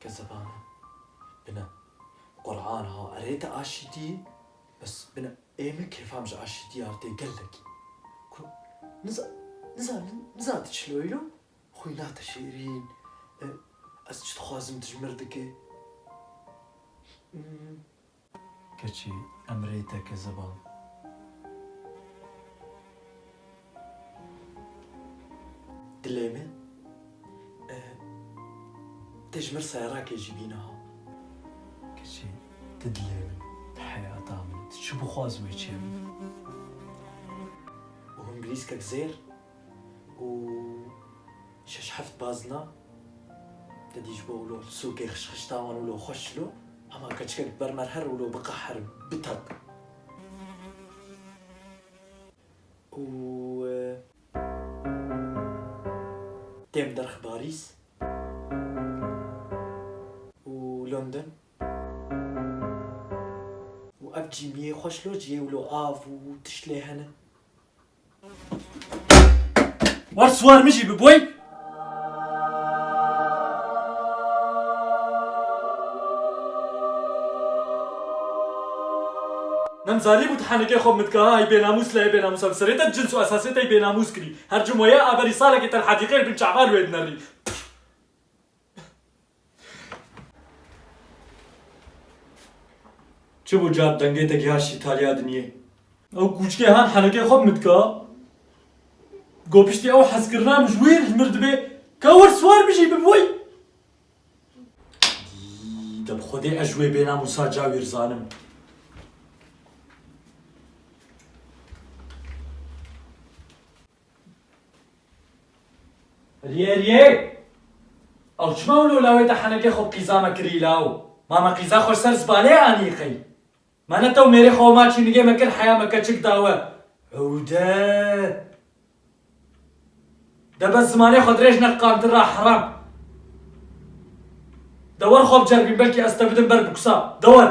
Ke zebane bine Qur'an ha erê te aşîtî bes bine ê min kêfam ji aşîtî artê gelekî ku niza niza niza diçilo îro xwîna te şêrîn ez çi dixwazim dijmir dike. Keçî em rê teke zivan. Dilê min ti ji mir seyarakê jî bî niha. Keçî ti dilê min, ti heyata min î, ti çi bixwaz wê çê min. Û hûn bilîskek zêr û Şeş heft bazna te dî ji bo wilo sûkê xişxişta wan wilo xweş şilo, hema keçikek bi ber me re her wilo biqeher, bitet û. Têm derx Parîs û London û ev cîmiyê xweş lo ciyê wilo av û tişt lê hene War swar min jî bi boy. Nem zarî bû tihanekê xwe min dikaha ey bênamûs lê ey bênamûsa bi serê te cins û esasê te ey bênamûs kirî. Her cim weye aberî salekê te li hedîqeyê bin çaval wê dinerî. Çi bû ca dengê te giha şîtaliya dinyê? Ew kûçikê han henekê xwe bi min dika. Go piştî ew hezkirina min ji wî re mir dibê ka wir siwar bijî bi wî. De bi xwedê ez ji wê bênamûsa ca wî rizanim. Rye rye! Ew çima wilo lawê te henekê xwe qîza me kirî law? Ma me qîza xwe ji ser zibalê anî qey? Ma ne tew mêrê xwe ma çînigê me kir heya me keçik da we? Ewde! De bes zimanê xwe dirêj ne qantir ra heram! De wer xwe biceribîn belkî ez te bidim ber bikusa. De wer!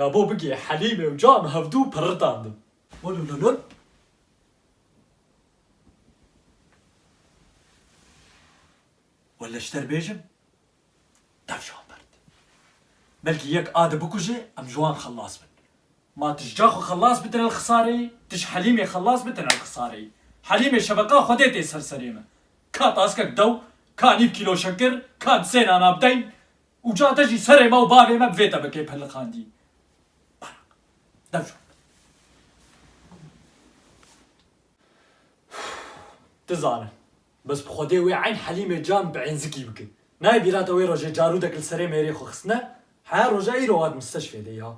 Ya bo bigê Helîmê û cam hevdû pirritandin. Wilo na na. Wele ji te re bêjim. Dev ji wan bird. Belkî yek a di bikuje em ji wan xelas bin. Ma tu ji ca xwe xelas bi tunel Xisarê, tu ji Helîmê xelas bi tunel Xisarê. Helîmê şeveqa Xwedê tê ser serê me. Ka taskek dew, ka nîv kîlo şekir, ka di sê nana bideyîn. Uca te jî serê me û bavê me bi vê tebekê peliqandî. Beraq. Dev ji wan bird. Dizanim. Bes bi Xwedê wê eyn Helîmê can bi eyn zikî bike. Nayê bîrata wê rojê carûdek li serê mêrê xwe xistine, heya roja îro wat misteşfê de ya.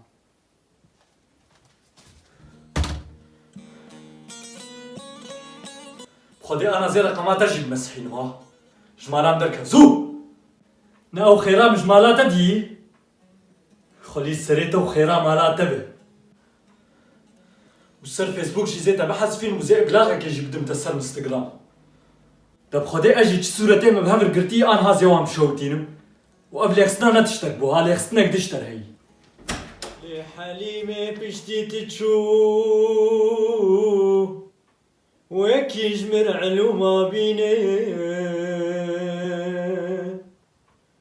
Bi Xwedê ana zê reqama te jî bi me sihînim a. Ji malan derket. Zû! Ne ew xêra min ji mala te dî. Xwelî serê te û xêra mala te be. Û ser Facebook jî zê te bihezfîn û zê iblaxekê jî bidim te ser Instagram. Deb Xwedê ez jî çi sûretê me bi hev re girtî anha zê wan bişewitînim û ev lexistina ne tiştek bû ha lexistinek diş derheyî. Lê Helîmê piştî ti çû wekî ji min elûma bîne.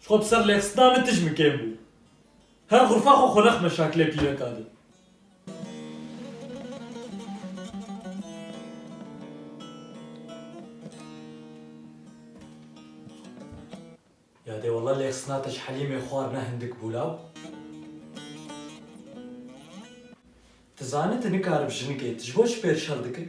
Ji xwe bi ser lexistina min tij min kêm bû. Her xurfa xwe xwe nexme şakilê pîreka din. Ya dê wela lexistina te ji Helîmê xwar ne hindik bû law. Ti zanî tu nikaribî jinikê, tu ji bo çi pêr şer dikir?